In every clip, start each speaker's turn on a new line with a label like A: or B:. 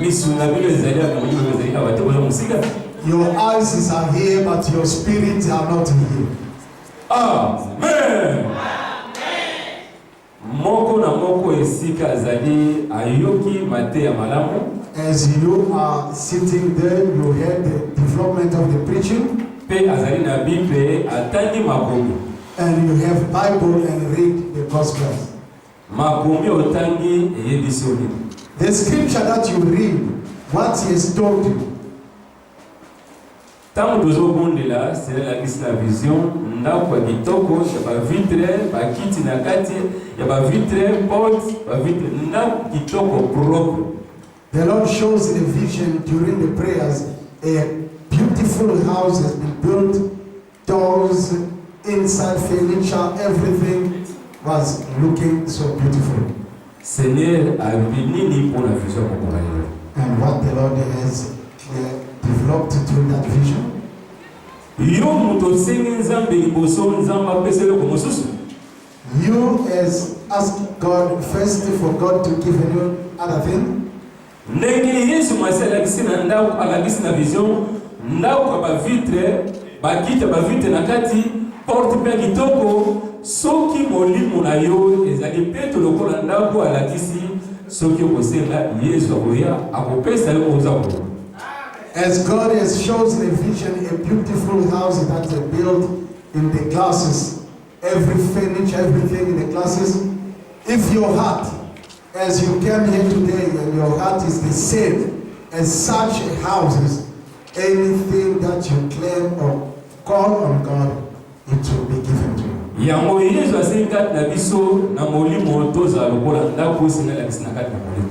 A: Misu na bino ezali ya molimo ezali na bato oyo mosika. Your eyes
B: are here but your spirit are not here. Amen.
A: Moko na moko esika azali ayoki mateya malamu. As you
B: are sitting there, you heard the development of the preaching. Mpe azali na
A: Bible atangi makomi. And you have
B: Bible and read the Gospels. Makomi
A: otangi eyebisi yo nini? The scripture
B: that you read, what he has told you.
A: Ntango tozobondela, Seigneur alakisi na vision ndako ya kitoko ya bavitre, bakiti na kati ya bavitre, porte, bavitre, ndako kitoko propre. The Lord
B: shows in a vision during the prayers a beautiful house has been built Doors, inside furniture, everything was looking so beautiful. Seigneur
A: alobi nini mpo na vision ya kokoka yango? And what the Lord
B: has uh, developed through that vision. Yo moto osengi Nzambe liboso Nzambe apesa eloko mosusu. You as ask God first for God to give you other thing. Ndenge Yesu mwasi alakisi na ndako, alakisi na vision ndako ya
A: bavitre, bakiti ya bavitre na kati, porte mpe ya kitoko. Soki molimo na yo ezali peto lokola ndako, alakisi soki okosenga Yesu akoya akopesa yo oza ko As
B: God has shows a vision, a beautiful house that they built in the glasses. Every finish everything in the classes. If your heart, as you came here today, and your heart is the same as such houses, anything that you claim or call on God, it will be given to you. yango yesu
A: asili kati na biso na molimo tozala lokola ndako esengeli na kati na molimo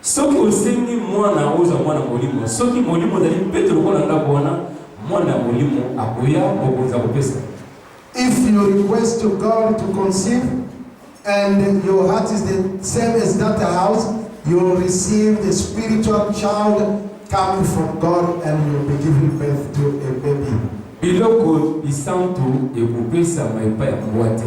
A: Soki osengi Mwana yango, ozwa Mwana Molimo. Soki Molimo ozali peto lokola ndako wana, Mwana ya Molimo akoya, Mokonzi akopesa. If you
B: request to God to conceive and your heart is the same as that house, you will receive the spiritual child coming from God and you will be giving birth to a baby. Biloko
A: bisantu ekopesama epai ya mbwa te.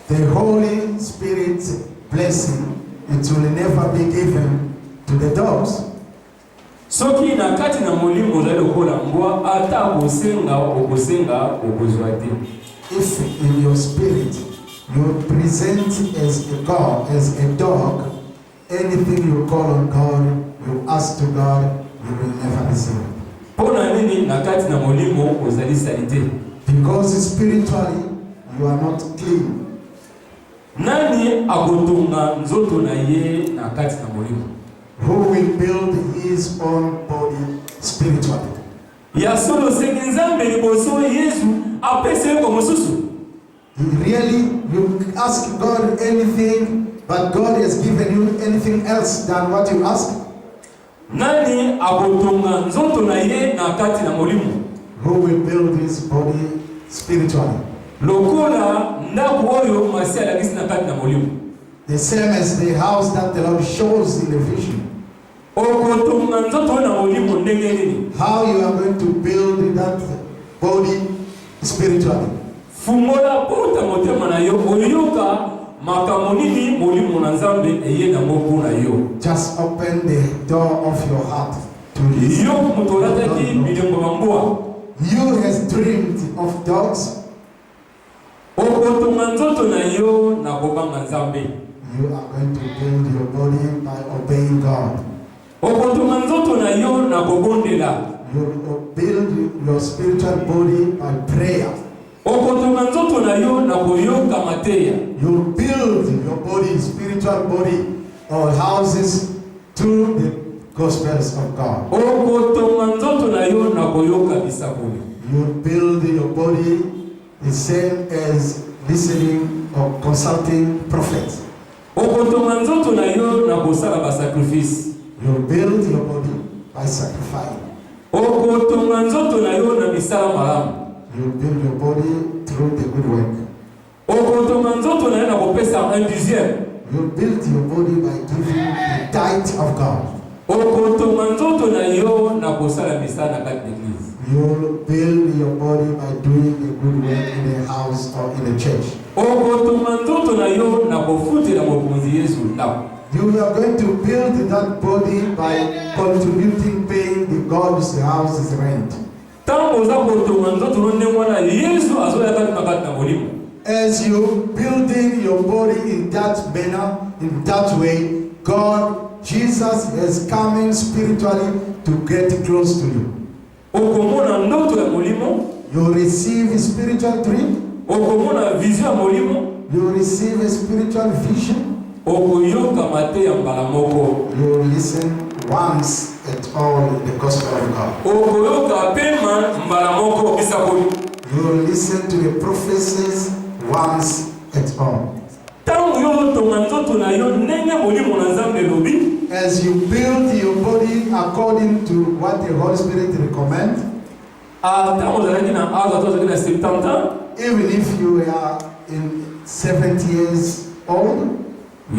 A: The
B: Holy Spirit blessing it will never be given to the dogs. Soki
A: na kati na molimo ozali lokola mbwa, ata kosenga okosenga okozwa te. If in
B: your spirit you present as a God, as a dog, Anything you call on God, you ask to God, you will never be saved. Mpo na nini na
A: kati na molimo ozali salite? Because
B: spiritually you are not clean.
A: Nani akotonga nzoto na ye na kati na molimo? Who will
B: build his own body spiritually? Ya
A: solo osengi Nzambe liboso Yesu apesa yo mosusu. Really,
B: you ask God anything, but God has given you anything else than what you ask? Nani
A: akotonga nzoto na ye na kati na molimo? Who will
B: build his body spiritually? Lokola
A: ndako oyo Masiya alakisi na kati na molimo. The same
B: as the house that the Lord shows in the vision. Okotonga
A: nzoto oyo na molimo ndenge nini? How you are going to
B: build that body spiritually. Fungola
A: pota motema na yo oyoka makambo nini molimo na Nzambe eye na mobu na yo. Just open the
B: door of your heart to listen. Yo moto
A: olataki bilembo ya mbwa. You has
B: dreamed of dogs. Okotonga
A: nzoto na yo na kobanga Nzambe. You are
B: going to build your body by obeying God. Okotonga
A: nzoto na yo na kobondela.
B: You will build your spiritual body by prayer. Okotonga nzoto na yo na koyoka mateya. You build your body, spiritual body, or houses Through the gospels of God. Okotonga nzoto na yo na koyoka bisakweli. You build your body the same as listening or consulting prophets. Okotonga nzoto na yo na kosala ba sacrifice. You build your body by sacrifice. Okotonga nzoto na yo na misala malamu. You build your body through the good work. Okotonga nzoto na ye na kopesa un dixième. You build your body by giving the tithe of God. Okotonga nzoto na yo na kosala misala na kati na eglise. You build your body by doing a good work in a house or in a church. Okotonga nzoto na yo na kofutela mokonzi Yesu ndako. You are going to build that body by contributing, paying the God's house's rent. Tango oza kotonga nzoto no ndenge wana Yezu azoya kati na kati na molimo. As you building your body in that manner, in that way, God, Jesus is coming spiritually to get close to you. Okomona ndoto ya molimo. You receive a spiritual dream. Okomona vision ya molimo. You receive a spiritual vision. Okoyoka mateya mbala moko. You will listen once at all the gospel of God. Okoyoka pema mbala moko bisakoli. You will listen to the prophecies once at all. Tango yo otonga nzoto na yo ndenge molimo na Nzambe elobi. As you build your body according to what the Holy Spirit recommend. Ah, ntango ozalaki na aza to ozalaki na 70 ans Even if you are in 70 years old,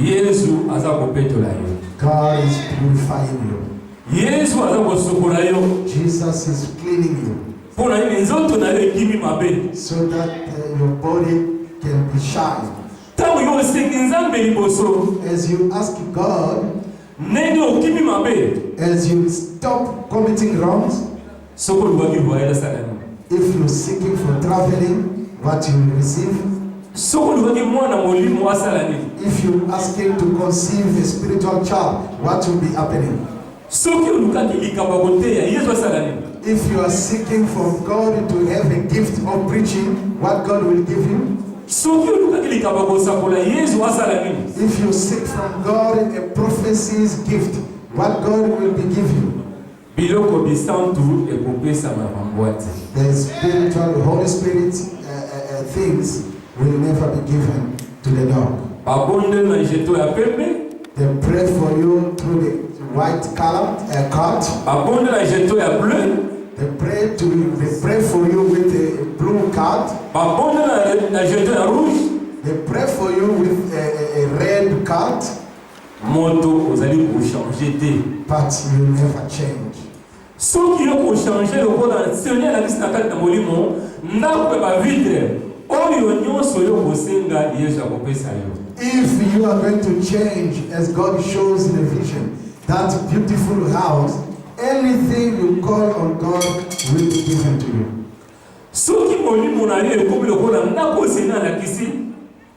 B: yesu aza kopetola yo God is purifying you. yesu aza kosukola yo Jesus is cleaning you mpo na nini nzoto na yo ekimi mabe so that uh, your body can be shine. ntango yo osengi nzambe liboso As you ask God, ndenge okimi mabe as you stop committing wrongs, Soki olubaki voyage asala nini? If you seeking for traveling, what you will receive? Soki olubaki mwana molimo asala nini? If you asking to conceive a spiritual child, what will be happening? Soki olukaki likambo ya koteya, Yesu asala nini? If you are seeking for God to have a gift of preaching, what God will give you? soki olukaki likambo ya kosakola yesu asala nini if you seek from god a prophecy's gift what god will be give you Biloko bisantu ekopesama na bambwati. The spiritual, the Holy Spirit uh, uh, uh, things will never be given to the dog. Babondeli na jeto ya pembe. They pray for you through the white color, uh, card. Babondeli na jeto ya bleu. They pray to you, they pray for you with a blue card. Babondeli na jeto ya rouge. They pray for you with a, a, a red card. Moto ozali ko changer te. But you never change. Soki yo ko changer lokola Seigneur alakisi na kati na molimo ndako ya ba vitre oyo nyonso yo kosenga Yesu akopesa yo. If you are going to change as God shows in a vision that beautiful house anything you call on God will be given to you. Soki molimo na yo ekomi lokola ndako Seigneur alakisi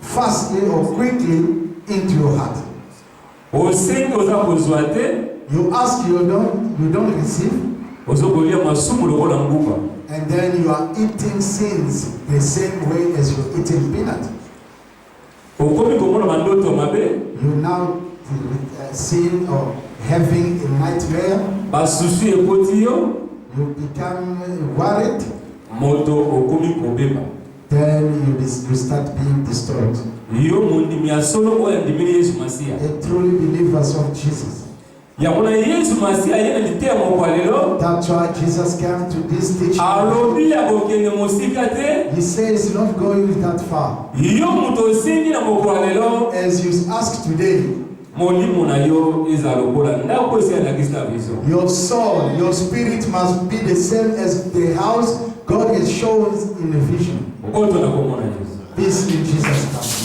B: fastly or quickly into your heart. Osengi oza kozwa te. You ask you don't, you don't receive. Ozo kolia masumu lokola nguba. And then you are eating sins the same way as you're eating peanut. Okomi komona mandoto mabe. You now uh, seeing or having a nightmare. Basusu ekoti yo. You become worried. Moto okomi kobeba. Then you, dis- you start being disturbed. yo mondimi ya solo oyo andimeli yesu masiya A truly believers of Jesus. yango na yesu masiya ye na liteya moko ya lelo That's why Jesus came to this teaching. alobi ya kokende mosika te He says, not going that far. yo moto osengi na moko ya lelo As you ask today, Molimo na yo ezala lokola ndako esi alakisi na vision. Your soul, your spirit must be the same as the house God has shown in the vision. Okoto na komona Yesu. This in Jesus' name.